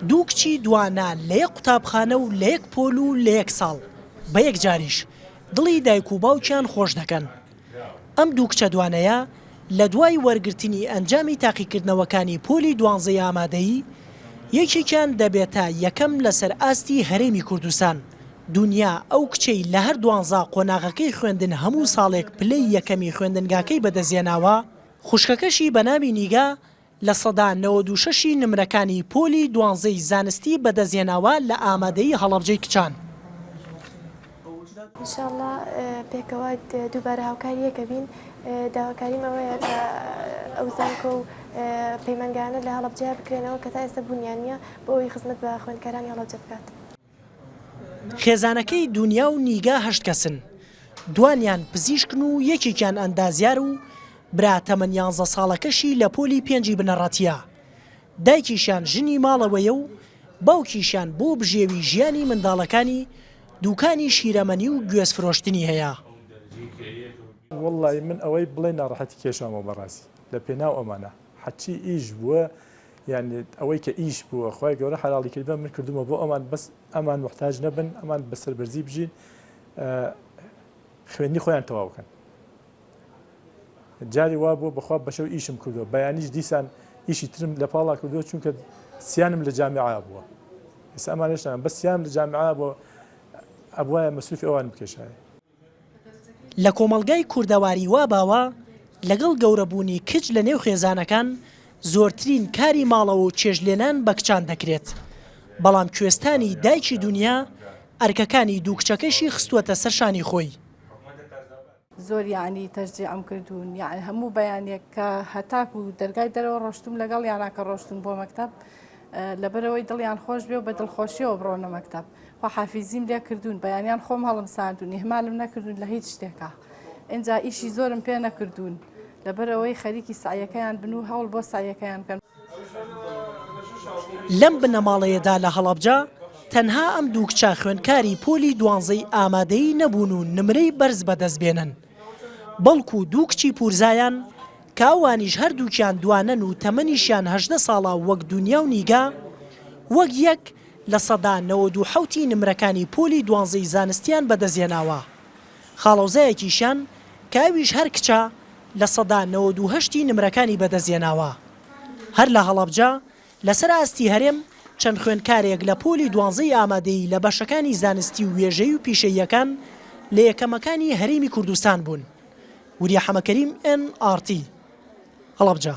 دوو کچی دوانا لە یەک قوتابخانە و لە یەک پۆل و لە یەک ساڵ، بە یەکجاریش دڵی دایک و باوکیان خۆش دەکەن. ئەم دوو کچە دوانەیە لە دوای وەرگرتنی ئەنجامی تاقیکردنەوەکانی پۆلی دوانزەی ئامادەیی، یەکێکیان دەبێتە یەکەم لەسەر ئاستی هەرێمی کوردستان. دونیا ئەو کچەی لە هەر دوانزە قۆناغەکەی خوێندن هەموو ساڵێک پلەی یەکەمی خوێندنگاکەی بەدەستهێناوە، خوشکەکەشی بە ناوی نیگا لە سەدا نەوەد و شەش ی نمرەکانی پۆلی دوانزەی زانستی بەدەستهێناوە لە ئامادەیی هەڵەبجەی کچان. ان شاءاللە پێکەوە دووبارە هاوکاری یەکەبین داواکاریم ئەوەیە کە ئەو زانکۆ و پەیمانگایانە لە هەڵەبجەیە بکرێنەوە کە تا ئێستا بوونیان نییە بۆ ئەوەی خزمەت بە خوێندکارانی هەڵەبجە بکات. خێزانەکەی دونیا و نیگا هەشت کەسن، دوانیان پزیشکن و یەکێکیان ئەندازیار و برا تەمەن یانزە ساڵەکەشی لە پۆلی پێنجی بنەڕەتییە. دایکیشیان ژنی ماڵەوەیە و باوکیشیان بۆ بژێوی ژیانی منداڵەکانی دوکانی شیرەمەنی و گوێز فرۆشتنی هەیە. وەڵڵایی من ئەوەی بڵێ ناڕەحەتی کێشامەوە بەڕاستی لە پێناو ئەمانە. حەچی ئیش بووە یانی ئەوەی کە ئیش بووە خی گەورە حراڵی کردە من کردومە بۆ ئەمان بەس ئەمان محتاج نەبن ئەمان بەسەر بەرزی بژین خوێنی خۆیان تەواوکەن جاری وا بوو بەخوا بەشە و ئیشم کردو بەیانیش دیسان ئیشی ترم لە پاڵا کردو چونکە سیانم لە جامعا بووە ئێستا ئەمانشتان بە سیام لە جامعا بۆ ئەبواە مەسوفی ئەوان بکێشایە لە کۆمەڵگای کوردەواری وا باوە لەگەڵ گەورە بوونی کچ لە نێو خێزانەکان زۆرترین کاری ماڵەوە و چێژ لێنان بە کچان دەکرێت بەڵام کوێستانی دایکی دونیا ئەرکەکانی دوو کچەکەشی خستووەتە سەر شانی خۆی. زۆر یانی تەشجیعم کردوون یانی هەموو بەیانێک کە هەتاکوو دەرگای دەرەوە ڕۆشتووم لەگەڵیانا کە ڕۆشتوون بۆ مەکتەب لەبەرئەوەی دڵیان خۆش بێ و بە دڵخۆشیەوە بڕۆنە مەکتب خواحافیزیم لێ کردوون بەیانیان خۆم هەڵم ساردون ئهمالم نەکردون لە هیچ شتێکا ئنجا ئیشی زۆرم پێ نەکردوون لەبەرەوەی خەریکی سەعیەکەیان بن و هەوڵ بۆ سەعیەکەیان بکەن. لەم بنەماڵەیەدا لە هەڵەبجە تەنها ئەم دوو کچە خوێندکاری پۆلی دوانزەی ئامادەیی نەبوون و نمرەی بەرز بەدەست بێنن، بەڵکو دوو کچی پورزایان کە ئەوانیش هەردووکیان دوانەن و تەمەنیشیان هەژدە ساڵە وەک دونیا و نیگا وەک یەک لە سەدا نەوەد و حەوت ی نمرەکانی پۆلی دوانزەی زانستیان بەدەستهێناوە خاڵۆزایەکیشیان کە ئەویش هەر کچە لە سەدا نەوەد و هەشت ی نمرەکانی بەدەستهێناوە هەر لە هەڵەبجە لەسەر ئاستی هەرێم، چەند خوێندکارێک لە پۆلی دوانزەی ئامادەیی لە بەشەکانی زانستی و وێژەیی و پیشەییەکان لە یەکەمەکانی هەرێمی کوردستان بوون. وریا حەمەکەریم، ئێن ئاڕ تی، هەڵەبجە.